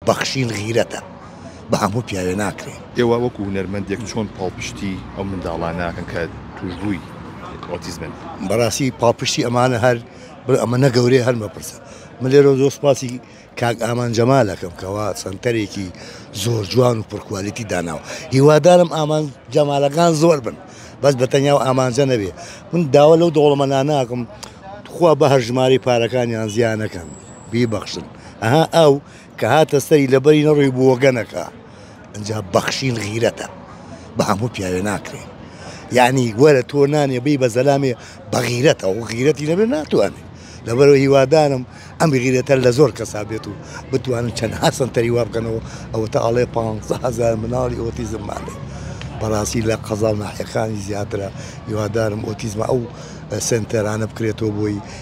بەخشین غیرەتە بە هەموو پیاوێ ناکرێ. ئێوە وەکو هونەرمەندێک چۆن پاڵپشتی ئەو منداڵانە ئەکەن کە توشبووی ئۆتیزمن؟ بەڕاستی پاڵپشتی ئەمانە هەر بڵێ ئەمە نە گەورەیە هەر مەپرسە. من لێرەوە زۆر سوپاسی کاک ئامان جەمال ئەکەم کەوا سەنتەرێکی زۆر جوان و پڕکوالیتی داناوە. هیوادارم ئامان جەمالەکان زۆر بن بەس بە تەنیا و ئامانجە نەبێ. من داوا لەو دەوڵەمەنانە ئەکەم تخوا بە هەر ژمارەی پارەکانیان زیا نەکەن. بیبەخشن ئەها ئەو کە هاتە سەری لەبەری نەڕۆی بۆگەنەکە ئەجا بەخشین غیرەتە بە هەموو پیاوێ ناکرێ یعنی وەرە تۆ نانێ بی بە زەلامێ بەغیرەتە و غیرەتی نەبێ ناتوانێت لەبەرەوە هیوادارم ئەم غیرەتە لە زۆر کەسا بێت و بتوانن چەند هەسن تەری وا بکەنەوە ئەوە تا ئەڵێ پ هزار مناڵی ئۆتیزم ماێ بەڕاستی لە قەزا و ناحەکانی زیاترە هیوادارم ئۆتیزمە ئەو سنتەرانە بکرێتەوە بۆی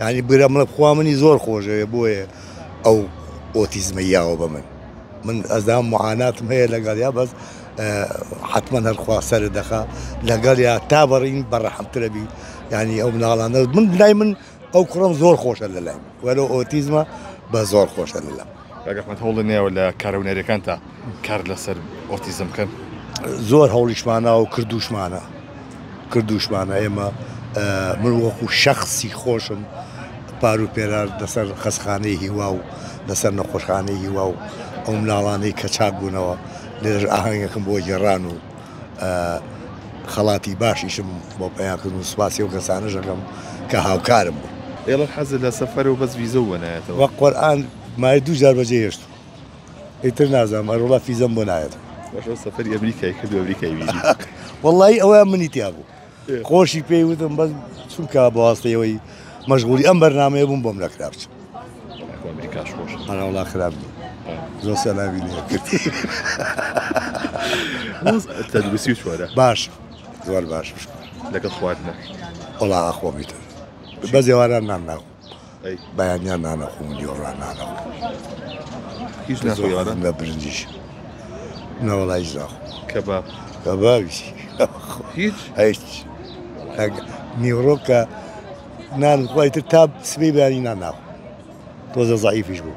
یانی برام لە خوا منی زۆر خۆشەوێ بۆیە ئەو ئۆتیزمە یاوە بە من من ئەزان معاناتم هەیە لەگەڵ یا بەس حتمما هەرخوا سەرت دەخا لەگەڵ یا تا بەڕین بەڕەحمترەبی ینی ئەو مناڵانە من لای من ئەو کوڕم زۆر خۆشە لە لای وەرە ئۆتیزمە بە زۆر خۆشە لە لام کاک ئەحمەد هەوڵی نەیاوە لە کارە هونەریەکانتا کار لەسەر ئۆتیزم بکەن؟ زۆر هەوڵیشمانە و کردوشمانە کردوشمانە ئێمە من وەکو شەخصی خۆشم پار و پێرار لەسەر خەسخانەی هیوا و لەسەر نەخۆشخانەی هیوا و ئەو مناڵانەی کە چاک بوونەوە لێرەش ئاهەنگەکەم بۆ گێڕان و خەڵاتی باشیشم بۆ پەیا کردن و سوپاسی ئەو کەسانەش ئەکەم کە هاوکارم بوون. ئێڵە حەزت لە سەفەرە و بەس ڤیزە و بۆ نایەتەوە. بە قورئان مایە دوو جار بەجێ هێشتووم ئیتر نازانم ئەروەڵا فیزەم بۆ نایەتەوە. باش ئەو سەفەری ئەمریکای کرد و ئەمریکای بینی. وەڵایی ئەوەیان منی تیا بوو. خۆشی پێی وتم بەس چونکە بەواستەی ئەوەی مەشغولی ئەم بەرنمەیە بووم بۆم نەکرا بچم هەناوڵا خراپ زۆر سەلاوی تەندروستی و چۆرە باش زۆر باش لەگەڵ خواردنە وڵا خۆمیتە بە زێواران نام ناخۆ بەیانیان نانەخۆم و دیۆڕان نانەخۆم هیچ ناخۆی ئەوانە؟ نە برنجیش نە وەڵا هیچ ناخۆم کەباب کەبابیش هیچ هیچ نیوڕۆکە نان خوای تر تا سبەی بەیانی نان ناخۆم تۆزە زەعیفیش بوو